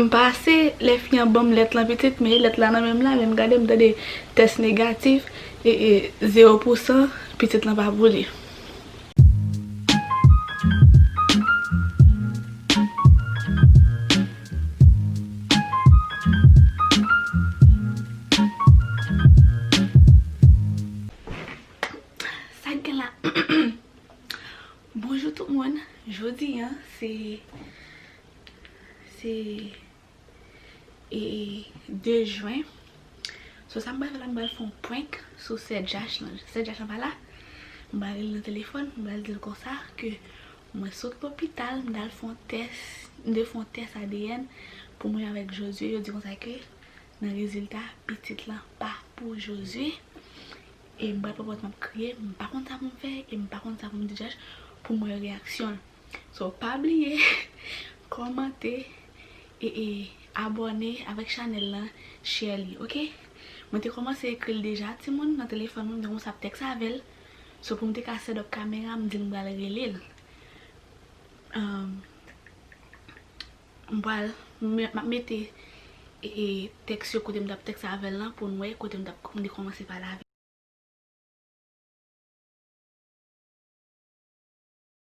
M pase lè fi an banm lèt lan pitit men lèt la nan menm la menm gade m tande tès negatif ee zero pou san pitit lan pa pou li. Sak gen la Bonjou tout moun Jodi an se. Se e 2 jwen So sa m pral fè la m pral fè yon prank sou sè Jach lan Sè Jach lan pa la M pral rele l nan telefòn M pral di l konsa ke mwen sot lopital m t al fè yon tès M te fè yon tès adn pou mwen avèk Josue Yo di konsa ke nan rezilta pitit lan pa pou Josue E m pral pran pòz m ap kriye M pa konn sa pou m fè e m pa konn sa pou m di Jach Pou m wè reyaksyon l So pa bliye kòmante e abòne avèk chanèl lan share li ok mwen te kòmanse ekril deja timoun nan telefòn mwen m te kòmanse ap tèks avèl so poum te ka set up kamera m dil m pral relel m pral map mete e tèks yo kote m tap tèks avèl lan poun wè kote m tap m te kòmanse pale avèl.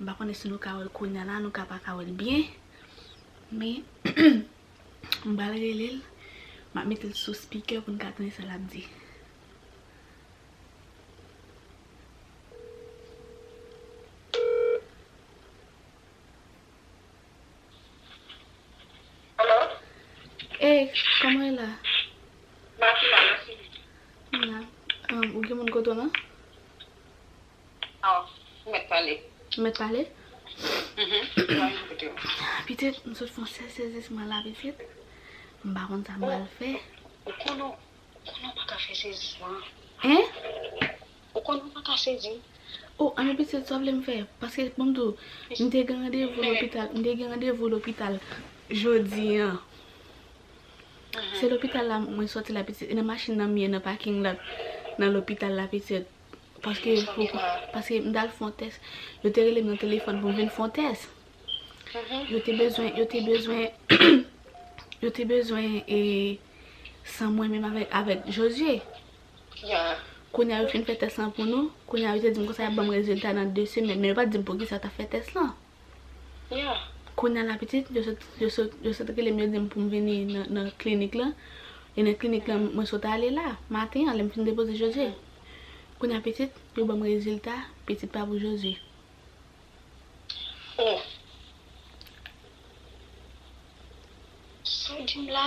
M pa konnen si nou ka wè l kounya la, nou ka pa ka wè l byen. Men, m pral rele l. M ap mete l sou speaker pou n ka tande sa l ap di. Hey, kòman ou ye la? Mati la, mèsi. Ou gen moun kote w lan? Ou mèt pale. Ou mèt pale? Pitit, m sot fon sèl sezisman la pitit. M pa konn sa m pral fè. Ou konn ou konn ou pa ka fè sezisman. Hein? Ou konn ou pa ka sezi. Oh, anmwe pitit, sa w vle m fè? Paske bon m di w, m te gen randevou lopital, m te gen randevou lopital jodi an. Se lopital la mwen soti la pitit. E nan machin nan m ye nan paking la nan lopital la pitit. Paske m t al fè yon tès. Yo te rele m nan telefòn pou m vin fè yon tès. Yo te bezwen, yo te bezwen, yo te bezwen e san mwen menm avèk Josué. Kounye a yo fin fè tès lan pou nou. Kounye a yo te di m konsa y ap ban m rezilta nan 2 semèn. Men yo pa t di m poukisa yo t ap fè tès lan. Yeah. Kounya la pitit, yo sot, yo sot, yo sot rele m yo di m pou m vini nan, nan klinik lan. E nan klinik lan mwen sot ale la, maten an lè m fin depoze Jozye. Kounya pitit, yo ban m rezilta, pitit pa pou Jozye. Oh! Sa w di m la,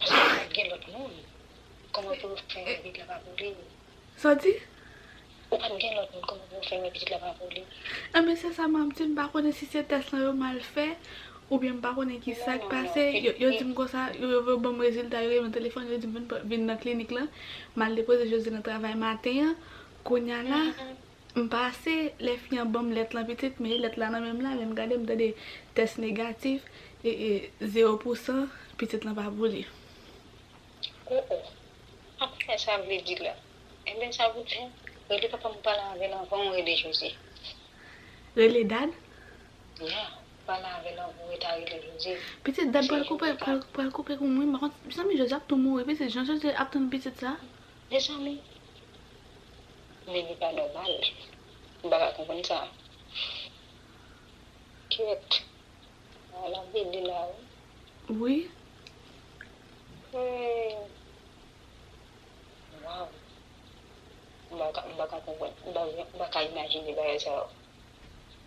Eske gen lòt moun? Kòman pou ou fè wè pitit la pa pou li? Sa w di? Ou pa t gen lòt moun, kòman pou ou fè wè pitit la pa pou li? Enben se sa m ap di, m pa konnen si se tès lan yo mal fè, oubyen m pa konnen ki sa k pase, yo di m konsa, yo vle ban m rezilta, yo rele m telefòn, yo di m vin nan klinik lan, m al depoze Jozye nan travay maten an, kounya la, M pase lè fi an banm lèt lan pitit me lèt la nan menm la menm gade m tande tès negatif ee zero pou san pitit lan pa pou li. Oh oh pa konnen sa vle di la enben sa pou tè rele papa m pale avèl anvan ou rele José. Rele dad? Yeah pale avèl anvan ou reta rele José. Pitit dad pral koupe pral koupe koum wi m pa konn mezanmi José ap tou mouri pitit jan José ap tann pitit sa. Mezanmi Men li pa nòmal m paka konprann sa Kyèt Ala lap rele la wi Wi Hum Waw M paka konprann m paka imajine bagay sa yo.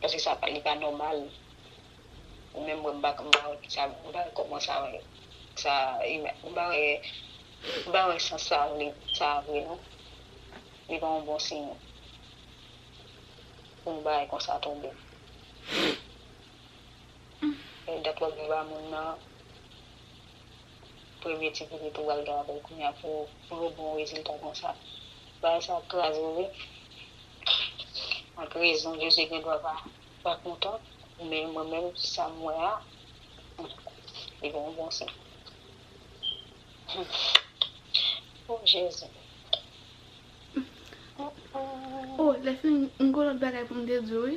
paske sa pa li pa nòmal ou menm mwen m pa m pa wè kisa m pa wè kòman sa wè sa ima m pa wè m pa wè sans sa vle sa vre non li pa yon bon siy pou yon bagay konsa tonbe dat wap di ba moun nan premye ti pitit ou pral gen avèl kounya pou pou yon bon rezilta konsa bagay sa ap kraze wi ak rezon Jezi gen dwa pa pa kontan men mwen menm sam wè a li gen yon bon siy humm oh Jezi oh lèfini m gen yon lòt bagay poum te diw wi.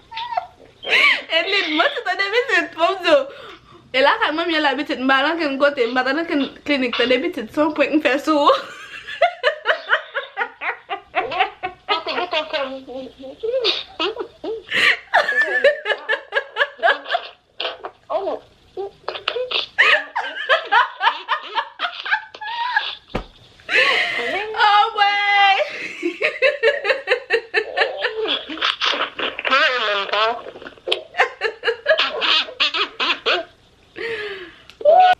Edlin, mwen sou tande pitit, fòm diw, e lakay manmi an la pitit, m pa al ankenn kote, m pa t al ankenn klinik tande pitit, son prank m fè sou ou. Mwen te gentan fè ri.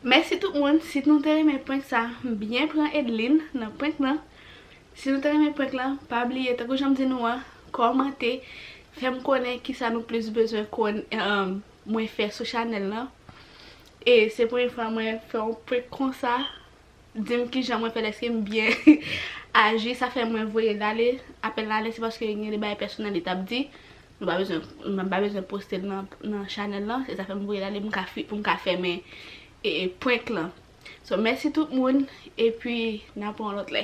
Mèsi tout moun, si nou te renmen prank sa, byen pran Edline nan prank nan. Si nou te renmen prank lan pa bliye tankou janm di nou an kòmante fèm konnen kisa nou plis bezwen konn mwen fè sou chanèl lan e se premye fwa mwen fè yon prank konsa dim kijan mwen fèl eskem byen aji sa fè mwen voyel ale apèl la ale se paske gen de bagay pèsonèl li tap di nou pa bezwen mwen pa bezwen postel nan chanèl lan se sa fèm voyel ale poum ka fèmen prank lan. So mèsi tout moun epi nan pran yon lòt lè.